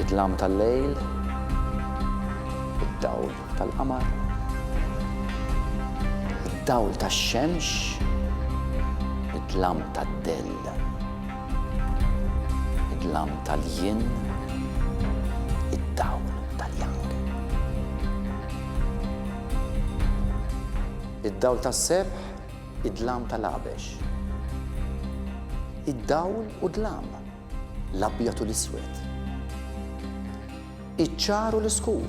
Id-dlam tal-lejl, id-dawl tal-qamar, id-dawl tax-xemx, id-dlam tad-dell, id-dlam tal-jien, id-dawl tal-jang. Id-dawl tas-sebħ, Id-dlam tal-għabex. Id-dawl u d-dlam, l-abjad u l-iswed. Iċ-ċar u l-iskur,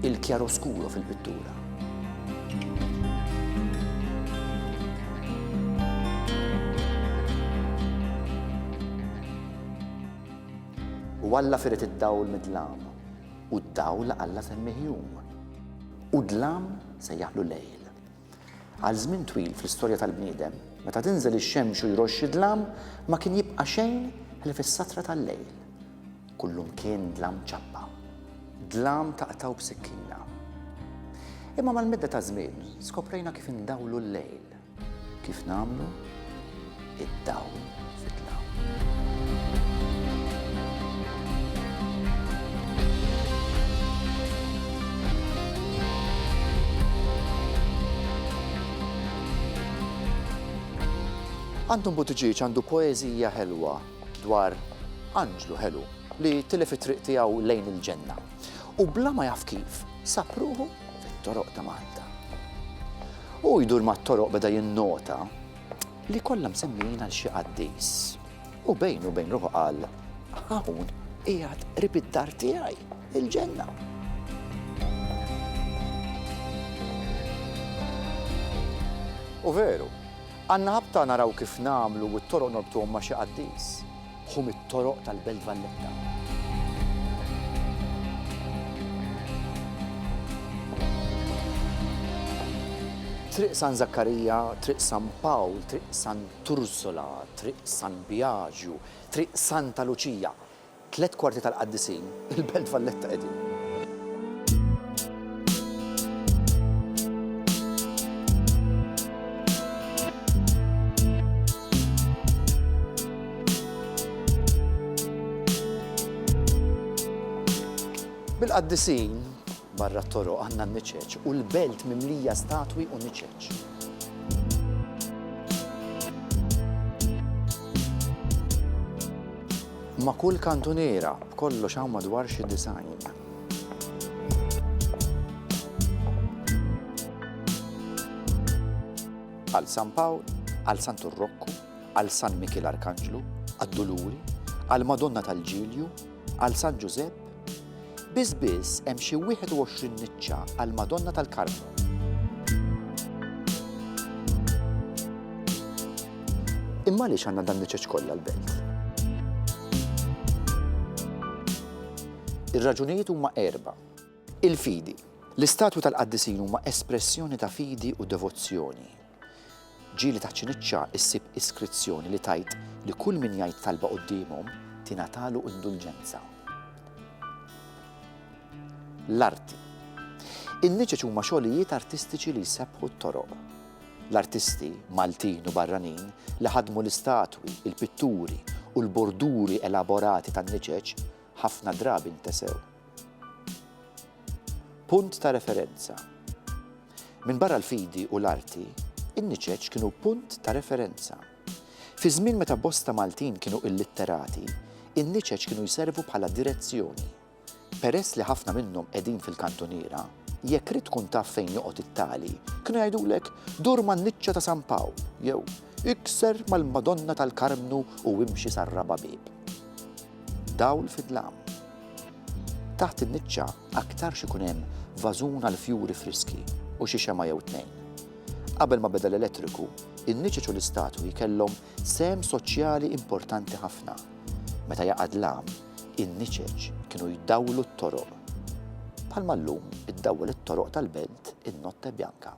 il-kjaroskuro fil-pittura. U Alla firet id-dawl mid-dlam, u d-dawl Alla semmih jum, u d-dlam sejjaħlu lejl. Għal żmien twil fl-istorja tal-bniedem, meta tinżel ix-xemx u jroxx id-dlam, ma kien jibqa' xejn ħlief is-satra tal-lejl. Kullum kien dlam ċappa. Dlam taqtgħu b'sikkina. Imma mal-medda taż-żmien, skoprejna kif indawlu l-lejl. Kif nagħmlu? id-dawl fid-dlam. Anton Buttigieg għandu poeżija ħelwa dwar anġlu ħelu li tilef it-triq tiegħu lejn il-ġenna u bla ma jaf kif sab ruħu fit-toroq ta' Malta. Hu jdur mat-toroq beda jinnota li kollha msemmijin għal xi qaddis. U bejn u bejn ruħu qal, hawn qiegħed qrib id-dar tiegħi, il-ġenna. U veru, għanna ħabta naraw kif namlu u t-toroq norbtuhom ma xi qaddis. Ħu mit-toroq tal-Belt Valletta. Triq San Zakkarija, Triq San Pawl, Triq San Turzola, Triq San Biagju, Triq Santa Luċija, tliet kwarti tal-qaddisin, Il-Belt Valletta qegħdin. Bil-qaddisin Barra t-toroq għandna n-niċeċ u l-belt mimlija statwi u niċeċ. Ma' kull kantuniera b'kollox hawn madwar xi design. Għal San Pawl, għal San Turrokku, għal San Mikil Arkanġlu, għad-Duluri, għal Madonna tal-Ġilju, Għal San Ġużepp, biss biss hemm xi 21 niċċa għall-Madonna tal-Karmnu. Imma għaliex għandna dan niċċeċ kollha l-belt? Ir-raġunijiet huma erba'. Il-fidi. L-istatwi tal-qaddisin huma espressjoni ta' fidi u devozzjoni. Ġieli ta' Ċiniċċa ssib iskrizzjoni li tgħid li kull min jgħid talba quddiemhom tingħatalu indulġenza. L-arti. In-niċeċ huma xogħlijiet artistiċi li jsebbħu t-toroq. L-artisti, Maltin u barranin, li ħadmu l-istatwi, il-pitturi u l-borduri elaborati tan-niċeċ ħafna drabi ntesew. Punt ta' referenza. Minbarra l-fidi u l-arti, in-niċeċ kienu punt ta' referenza. Fi żmien meta bosta Maltin kienu illitterati, in-niċeċ kienu jservu bħala direzzjoni. Peress li ħafna minnhom qegħdin fil-kantuniera, jekk rid tkun taf fejn joqgħod it-tali, kienu jgħidulek dur man-niċċa ta' San Pawl jew ikser mal-Madonna tal-Karmnu u imxi sar-raba' bieb. Dawl fid-dlam. Taħt in-niċċa aktarx ikun hemm vażun għall-fjuri friski u xi xemgħa jew tnejn. Qabel ma beda l-elettriku, in-niċeċ u l-istatwi kellhom sehem soċjali importanti ħafna. Meta jaqa' dlam, in-niċeċ kienu jdawlu t-toroq. Bħalma llum iddawwel it-toroq tal-belt in-Notte Bianca.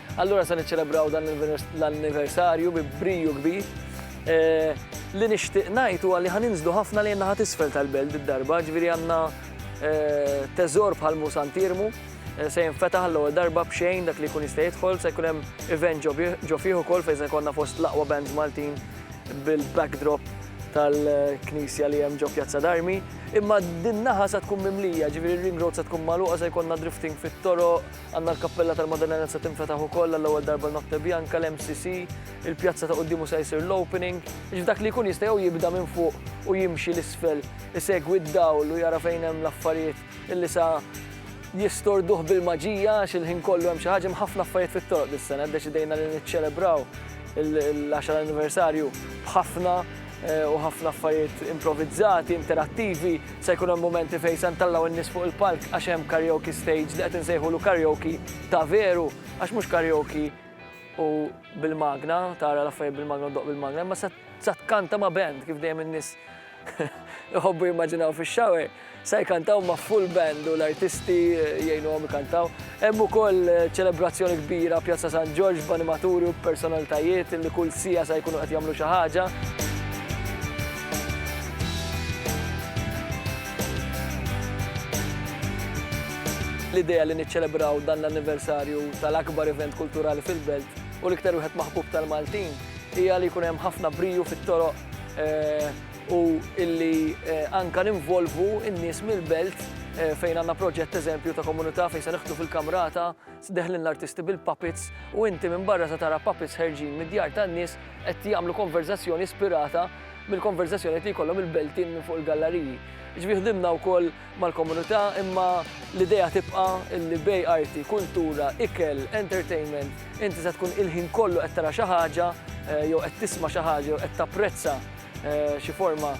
Allura se niċċelebraw dan l-anniversarju bi briju kbir. Eh, li nixtieq ngħid huwa li ħaninżlu ħafna li naħa tisfel tal-belt id-darba, ġifieri għandna eh, teżor bħal Musan Tirmu, eh, se jinfetaħ l-ewwel darba b'xejn dak li jkun jista' jidħol, se jkun hemm event ġo fih ukoll fejn se jkollna fost l-aqwa bands Maltin bil-backdrop tal-knisja li hemm ġo Pjazza Darmi, imma din naħa sa tkun mimlija, ġifieri ring road sa tkun magħluqa se jkollna drifting fit-toroq, Għandna l-Kappella tal-Maddalena li se tinfetaħ ukoll għall-ewwel darba l-Notte Bianca, l-MCC, il-pjazza ta' quddiemu se jsir l-opening, jiġifieri dak li jkun jista' jew jibda minn fuq u jimxi 'l isfel, isegwi d-dawl u jara fejn hemm l-affarijiet illi sa jistorduh bil-maġija għax il-ħin kollu hemm xi ħaġa, hemm ħafna affarijiet fit-toroq dis-sena, ddeċidejna li niċċelebraw l-għaxar anniversarju b'ħafna u ħafna affarijiet improvizzati, interattivi, se jkun hemm mumenti fejn se ntellgħu n-nies fuq il-palk għax hemm karaoke stage li qed insejħulu karaoke ta' veru għax mhux karaoke u bil-magna, tara l-affarijiet bil-magna u ddoqq bil-magna, imma se tkanta ma' band kif dejjem in-nies iħobbu jimmaġinaw fix-shower. Se jkantaw ma' full band u l-artisti jgħinuhom ikantaw. Hemm ukoll ċelebrazzjoni kbira Pjazza San Ġorġ b'animaturi u b'personalitajiet li kull siegħa se jkunu qed jagħmlu xi ħaġa. L-idea li niċċelebraw dan l-anniversarju tal-akbar event kulturali fil-belt u l-iktar wieħed maħbub tal-Maltin hija li jkun hemm ħafna briju fit-toroq eh, u illi anke ninvolvu n-nies mill-belt fejn għandna proġett eżempju ta' komunità fejn se niħdmu fil-Kamrata, dehħlin l-artisti bil-puppets u inti minn barra se tara puppets ħerġin mid-djar tan-nies qed jagħmlu konverżazzjoni ispirata mill-konverżazzjonijiet li jkollhom il-Beltin minn fuq il-gallariji. Jiġifieri ħdimna wkoll mal-komunità imma l-idea tibqa' li bejn arti, kultura, ikel, entertainment, inti se tkun il-ħin kollu qed tara xi ħaġa jew qed tisma' xi ħaġa jew qed tapprezza xi forma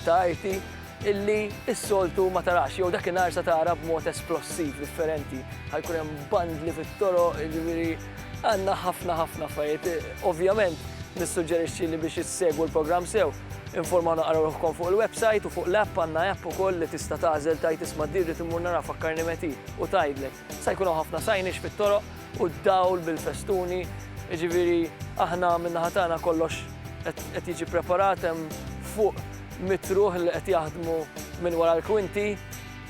ta' arti illi s-soltu ma tarax jew dakinhar se tara b'mod esplossiv, differenti. Ħa jkun hemm bandli fit-toroq, jiġifieri għandna ħafna ħafna affarijiet. Ovvjament nissuġġerixxi li biex issegwu l-programm sew, Informaw naqraw ruħkom fuq il-website u fuq l-app għandna app ukoll li tista' tagħżel tajt isma' dirri timmur nara fakkarni meti u tgħidlek. Sa jkun hawn ħafna sajnix fit-toroq u d-dawl bil-festuni, jiġifieri aħna min-naħa tagħna kollox qed jiġi preparat hemm fuq mitt ruħ li qed jaħdmu minn wara l-kwinti.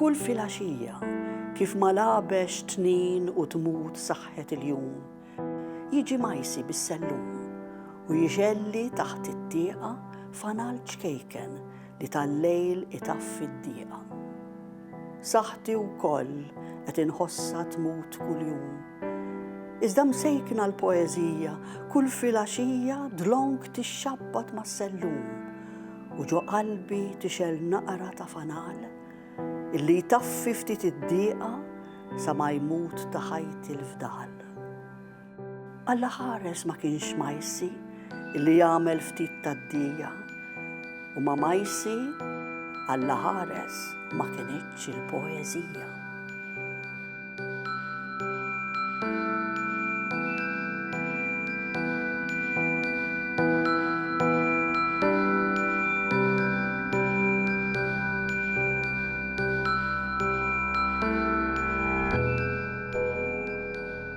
Kull filgħaxija, kif ma lagħbex tnin u tmut saħħet il-jum, jiġi Majsi bis-sellum u jixgħelli taħt it-tieqa fanal ċkejken li tal-lejl itaffi d-dieqa. Saħħti wkoll qed inħossha tmut kuljum. Iżda msejkna l-poeżija kull filgħaxija dlonk tixxabbat mas-sellum u ġo qalbi tixgħel naqra ta' fanal illi jtaffi ftit id-dieqa sa ma jmut ta' ħajti l-fdal. Alla ħares ma kienx Majsi li jagħmel ftit tad-dija u ma' Majsi Alla ħares ma kinitx il-poeżija.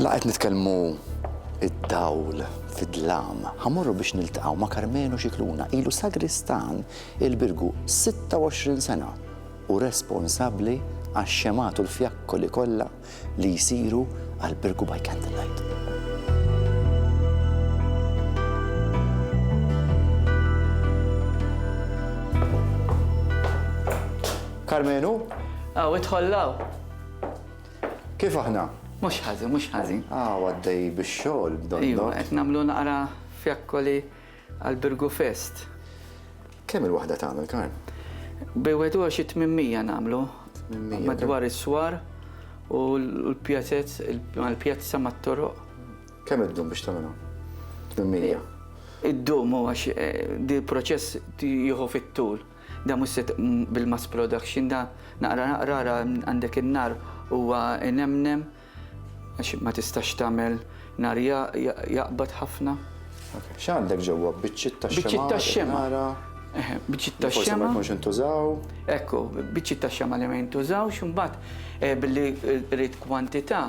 Laqgħet nitkellmu id-dawl fid-dlam. Ħamorru biex niltaqgħu ma' Karmenu Xikluna, ilu sagristan il-Birgu 26 sena u responsabbli għax-xemat u l-fjakkoli kollha li jsiru għal Birgu by Candlelight. Karmenu? Aw, itħollaw. Kif aħna? Mux ħazi, mux ħazi. Aw, għaddej bix-xogħol, donna. Iva, qed nagħmlu naqra fjakkoli Għall-Birgu Fest. Kemm il-waħda tagħmel, Karl? Bejn wieħed u xi 800 nagħmlu. Madwar is-swar u l-pjazez, il-pjazza mat-toroq. Kemm iddum biex tagħmilha? 800. Iddum u għax eh, di proċess jieħu fit-tul. Da mhux se bil-mass production da naqra naqra għandek in-nar huwa inemnem Għax ma tistax tagħmel nhar jaqbad ħafna. X'għandek ġewwa? Biċċiet ta' xemgħa? Biċċiet ta' xemgħa. Eħe, biċċiet ta' xemgħa. Forsi ma jkunx intużaw. Ekku, biċċiet ta' xemgħa li ma jintużawx, imbagħad billi rrid kwantità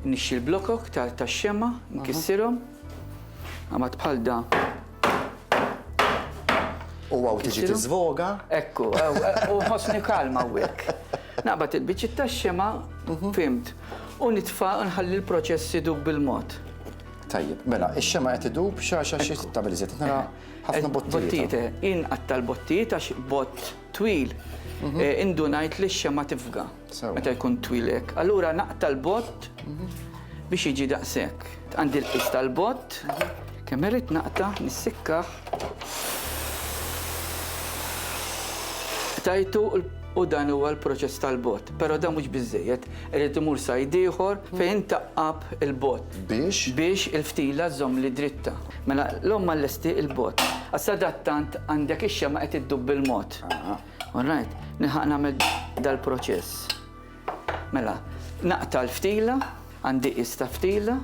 nixxi l-blokok tax-xemgħa, nkissirhom. Mbagħad bħal dan. U għaw tiġi tiżvoga. Ekku, u ħosni kalma u għek. Naqbat il-bicċi ta' xema, mhm. fimt, u nitfa nħalli l-proċessi dub bil-mod. Tajjeb, mela, ix-xema qed idub xaxa xi stabilizet. Nara ħafna bottijiet. Inqatta l-bottijiet għax bott twil mhm. eh, indunajt li x-xema tifga. Meta jkun twil hekk, allura naqta' l-bott biex jiġi daqshekk. Għandi l-qis tal-bott, kemm irrid naqta' nissikkaħ. Tajtu u dan huwa l-proċess tal-bott, però dan mhux biżejjed, irid imur sajd ieħor fejn taqqab il-bott. Biex? Biex il-ftila żomm li dritta. Mela l-omm lesti il-bott. Għas-sadattant għandek ix-xema qed iddub bil-mod. All right, nilħaq nagħmel dal-proċess. Mela, naqta' l-ftila, għandi qis ta' ftila,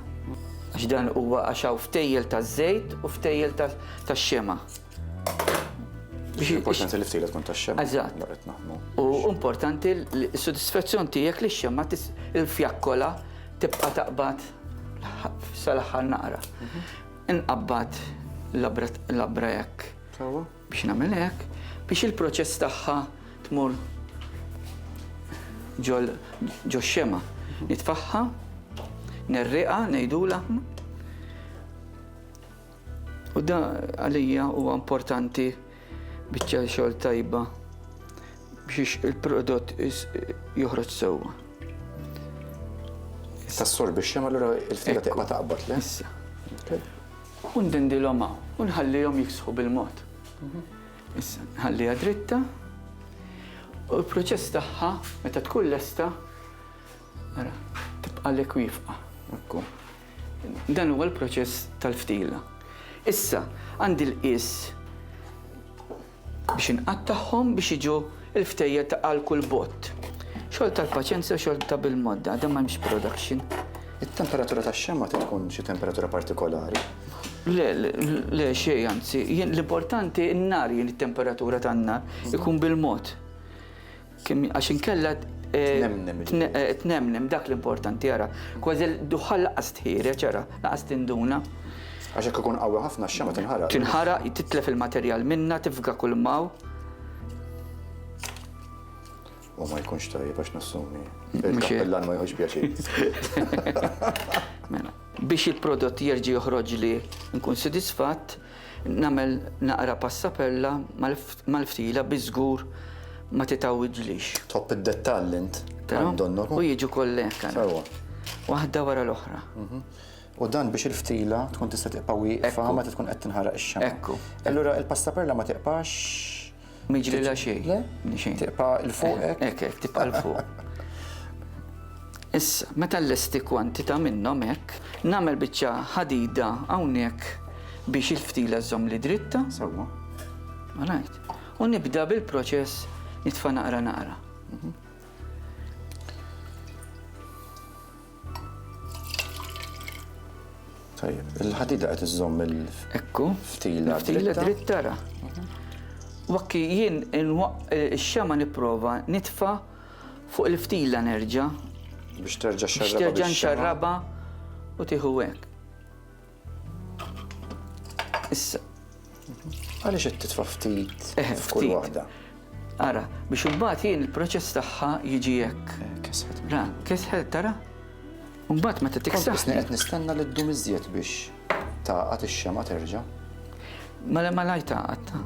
għax dan huwa għax hawn ftejjel taż-żejt u ftejjel tax-xema. Biex importanti li ftejjel tkun tax-xema. Eżatt. U importanti l-sodisfazzjon tiegħek li x-xema il-fjakkola tibqa' taqbad sal-aħħar naqra. Mhm. Inqabbad l-abra jekk. Biex nagħmel hekk, biex il-proċess tagħha tmur ġox-xemgħa. Nitfagħha, nerriqha, ngħidulha. U da għalija huwa importanti biċċa xogħol tajba biex il-prodott joħroġ sewwa. Issa s-sor biex xemgħa l-ura il-fila taqbad, le? Issa. U ndindilhom hawn u nħallihom jifsħu bil-mod. Issa nħalliha dritta u l-proċess tagħha meta tkun lesta ara tibqalek wifqa. Dan huwa l-proċess tal-ftila. Issa għandi l-qies Biex inqattagħhom biex jiġu l-ftejjel ta' għal kull bott. Xogħol tal-paċenzja u xogħol ta' bil-modda, dan m'hemmx production. It-temperatura tax-xemgħa trid tkun xi temperatura partikolari? Le, le xejn anzi, l-importanti n-nar jien it-temperatura tan-nar ikun bil-mod. Kemm għax inkella tnemnem dak l-importanti ara. Kważi l-duħħal laqas tħiereġ ara, laqas tinduna. Għax jekk ikun qawwi ħafna x-xemgħa tinħaraq. Tinħaraq, titlef il-materjal minnha, tifga kull maw. U ma jkunx tajjeb għax nassumi. Il-kappellan ma jħoġ pjaċir. Mela, biex il-prodott jerġa' joħroġ li nkun sodisfatt, Nagħmel naqra passapella mal-ftila bi żgur ma titgħawidlix. Tħobb id-dettalli int, Għan Donnoku? U jiġu kollha hekk ara. Sewwa. Waħda wara l-oħra. U dan biex il-ftila tkun tista' tibqa' wieqfa meta tkun qed tinħaraq ix-xamgħa. Ekku. Allura l-passapella ma tiqpax. Miġrilha xejn. Le? Xejn. Tibqa' l fuq hekk. Hekk hekk tibqa' l fuq. Issa, meta l-lesti kwantità minnhom hekk, nagħmel biċċa ħadida hawnhekk biex il-ftila żomm li dritta. Sewwa. Alright. U nibda bil-proċess nitfa' naqra naqra. Mhm. Tajjeb, il-ħadida qed iżżomm il Ekku. Ftila ftila dritta ra. Wakki jien ix-xema nipprova nitfa fuq il-ftila nerġa'. Biex terġa' xarraba. Biex terġa' xarraba u tieħu hekk. Issa. Għaliex qed titfa' ftit f'kull waħda? Ara, biex imbagħad jien il-proċess tagħha jiġi hekk. Eh, kesħet. Ra, kesħet tara. Imbagħad meta tiksaħ. Qed nistenna li ddum iżjed biex taqgħad ix-xema terġa'. Mela ma lajta għatta.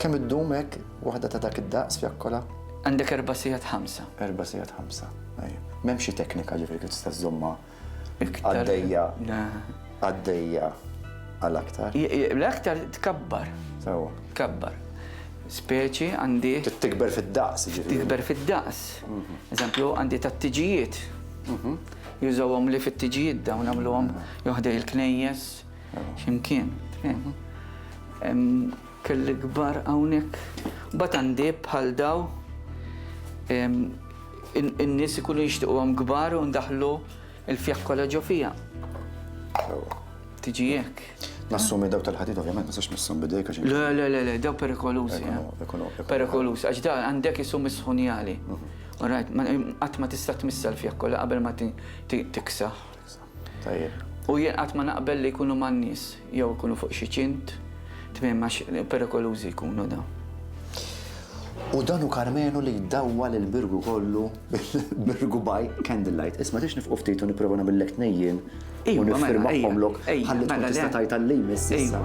Kemm iddum hekk waħda ta' dak id-daqs fjakkola? Għandek erba' sigħat ħamsa. Erba' sigħat ħamsa. M'hemm xi teknika ġifieri kif tista' żommha Għaddejja. Għaddejja għal aktar. L-aktar tkabbar. Sewa. Tkabbar. Speċi għandi. Tikber fid-daqs. Tikber fid-daqs. Mhm. Eżempju, għandi tat-tiġijiet. Mhm. Jużawhom li fit-tiġijiet dawn għamluhom joħdej il-knejjes ximkien. Mhm. Kelli kbar hawnhekk. Mbagħad għandieb bħal daw in-nies ikunu jixtiquhom kbar u ndaħħlu l-fjaħ kollha ġo fiha. Tiġi hekk. Nassumi daw tal-ħadid, ovvjament, ma sax nissom bidejk għax. Le, le, le, le, daw perikolużi. Eh. Perikolużi, għax da għandek isu misħunjali. Mhm. Alright, għat ma tista' tmissa l-fjak kollha qabel ma tiksa. Tajjeb. U jien qatt ma naqbel li jkunu man-nies jew ikunu fuq xi ċint, tmiem għax perikolużi jkunu dawn. U dan hu Karmenu li jdawwal il-Birgu kollu bil-Birgu by candlelight. Isma' tridx nifqu ftit u nipprova nagħmillek tnejjien u niffirmahomlok ħalli tkun tista' tgħid għal-li jmiss issa.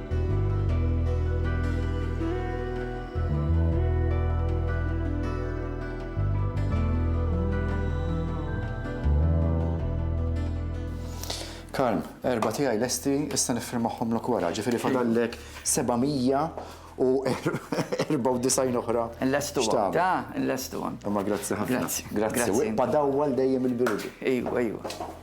Karm, erba tiegħi lesti, issa nifirmaħħomlok wara, ġifieri fadallek 794 oħra. Lestu għam, ta, lestu għam. Ma grazzi ħafna. Grazzi. Grazzi. Badawwal dejjem il-birdi. Ejwa, ejwa.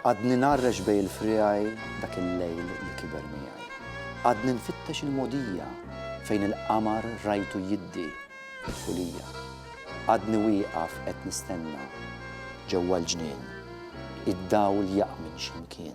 Għadni ngħarrex bejn il-friegħi dak il-lejl li kiber miegħi. Għadni nfittex il-mogħdija fejn il-qamar rajtu jiddi fil-fulija. Għadni wieqaf qed nistenna ġewwa l-ġnien id-dawl jaqmin x'imkien.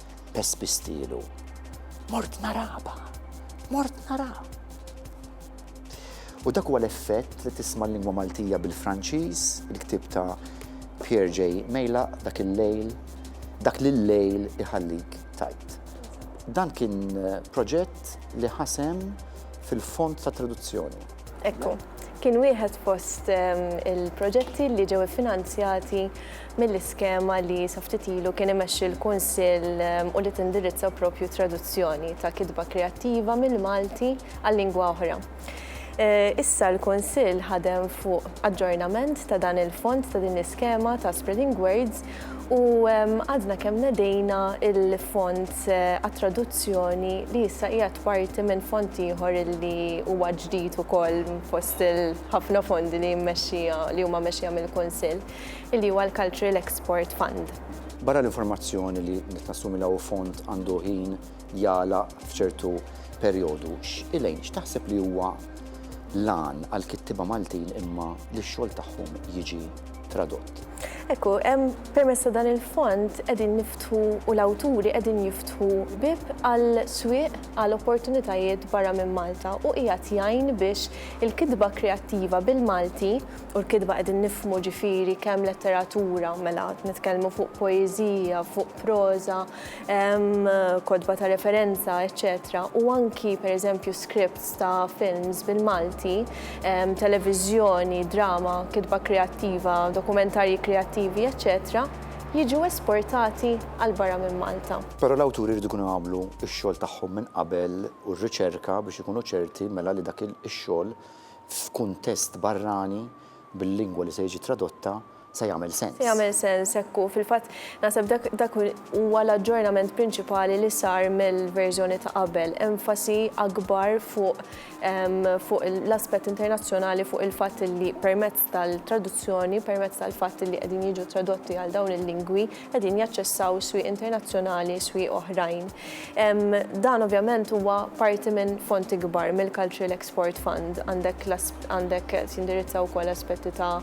pes pistilu. Mort naraba, mort nara. U dak huwa l-effett li tisma' l-lingwa Maltija bil-Franċiż, il-ktieb ta' Pierre J. Mejla dak il-lejl, dak l-lejl iħallik tajt. Dan kien eh, proġett li ħasem fil-fond ta' traduzzjoni. Ekku, kien wieħed fost ehm, il-proġetti li ġew finanzjati mill-iskema li saftitilu kien imexxi l-Kunsill ehm, u li tindirizza propju traduzzjoni ta' kitba kreattiva mill-Malti għal lingwa oħra. Eh, issa l-Konsil ħadem fuq aġġornament ta' dan il-fond ta' din l-iskema ta' Spreading Words U għadna kemm nedejna il-fond għat-traduzzjoni li issa qiegħed parti minn fond ieħor li huwa ġdid ukoll fost il-ħafna fondi li jimmexxija li huma mexxija mill-Kunsill, li huwa l-Cultural Export Fund. Barra l-informazzjoni li qed nassumi li hawn fond għandu ħin jagħlaq f'ċertu perjodu. Elaine, x'taħseb li huwa l-għan għal kittiba Maltin imma li x-xogħol tagħhom jiġi tradott? Ekku, permessa dan il-fond edin niftħu u l-awturi edin jiftħu bib għal swieq għal opportunitajiet barra minn Malta u ijat jajn biex il-kidba kreattiva bil-Malti u l-kidba edin nifmu ġifiri kem letteratura mela nitkellmu fuq poezija, fuq proza, kotba ta' referenza, eċċetera u anki pereżempju scripts ta' films bil-Malti, televiżjoni, drama, kitba kreattiva, dokumentarji kreattivi, eċċetera jiġu esportati għal barra minn Malta. Però l-awturi jridu jkunu għamlu x-xogħol tagħhom minn qabel u r-riċerka biex ikunu ċerti mela li dak ix-xogħol f'kuntest barrani bil-lingwa li se jiġi tradotta se jagħmel sens. Se jagħmel sens hekk hu. Fil-fatt naħseb dak dak huwa l-aġġornament prinċipali li sar mill-verżjoni ta' qabel, enfasi akbar fuq ehm, fuq l-aspett internazzjonali fuq il-fatt li permezz tal-traduzzjoni, permezz tal-fatt li qegħdin jiġu tradotti għal dawn il-lingwi, qegħdin jaċċessaw swieq internazzjonali, swieq oħrajn. Dan ovvjament huwa parti minn fond ikbar mill-Cultural Export Fund. Għandek għandek tindirizza wkoll aspetti ta'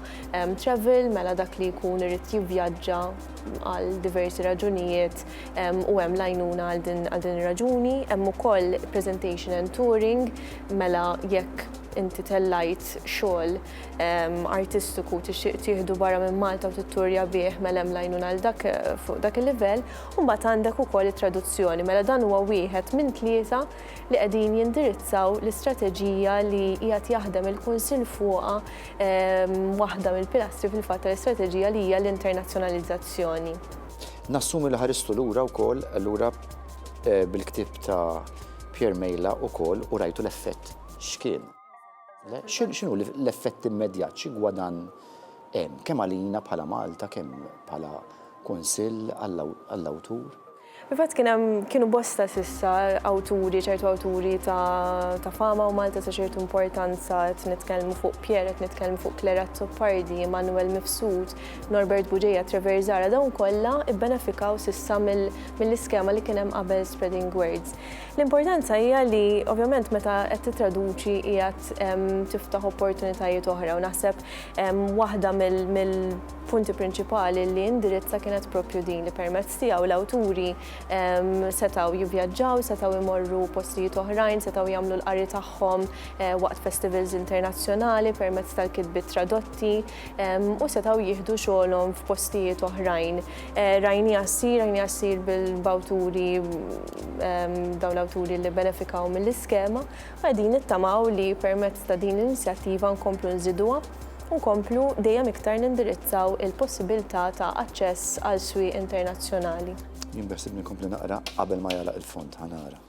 travel, mela dak li jkun irid jivvjaġġa għal diversi raġunijiet u hemm l-għajnuna għal din ir-raġuni. Hemm ukoll presentation and touring, mela jekk inti tellajt xogħol artistiku tixtieq tieħdu barra minn Malta u titturja bih mela hemm lajnuna għal dak fuq dak il-livell, u mbagħad għandek ukoll it-traduzzjoni. Mela dan huwa wieħed minn tlieta li qegħdin jindirizzaw l-istrateġija li qiegħed jaħdem il-Kunsill fuqha, waħda mill-pilastri fil-fatt tal-istrateġija li hija l-internazzjonalizzazzjoni. Nassumi li ħaristu lura wkoll allura bil-ktieb ta' Pierre Mejla wkoll u rajtu l-effett x'kien. X'inhu l-effett immedjat, xi gwadann hemm, kemm għalina bħala Malta, kemm bħala Kunsill għall-awtur? Fil-fatt kien hemm, kienu bosta s'issa awturi, ċertu awturi ta' fama u Malta ta' ċertu importanza, qed nitkellmu fuq Pierre, qed nitkellmu fuq Claire Azzopardi, Emmanuel Mifsud, Norbert Bugeja, Trevor Zahra, dawn kollha bbenefikaw s'issa mill-iskema li kien hemm qabel Spreading Words. L-importanza hija li ovvjament meta qed tittraduċi qiegħed tiftaħ opportunitajiet oħra u naħseb waħda mill punti prinċipali li indirizza kienet propju din li permezz tiegħu l-awturi ehm, setgħu jivvjaġġaw, setgħu jmorru postijiet oħrajn, setgħu jagħmlu l-qari tagħhom eh, waqt festivals internazzjonali permezz tal-kitbi tradotti. u setgħu jieħdu xogħolhom f'postijiet oħrajn. Rajniha ssir, rajniha ssir b'awturi dawn l-awturi li benefikaw mill-iskema u qegħdin nittamaw li permezz ta' din l-inizjattiva nkomplu nżiduha u nkomplu dejjem iktar nindirizzaw il-possibilità ta' aċċess għal swieq internazzjonali. Jien beħsibni nkompli naqra qabel ma jagħlaq il-fond, ħa nara.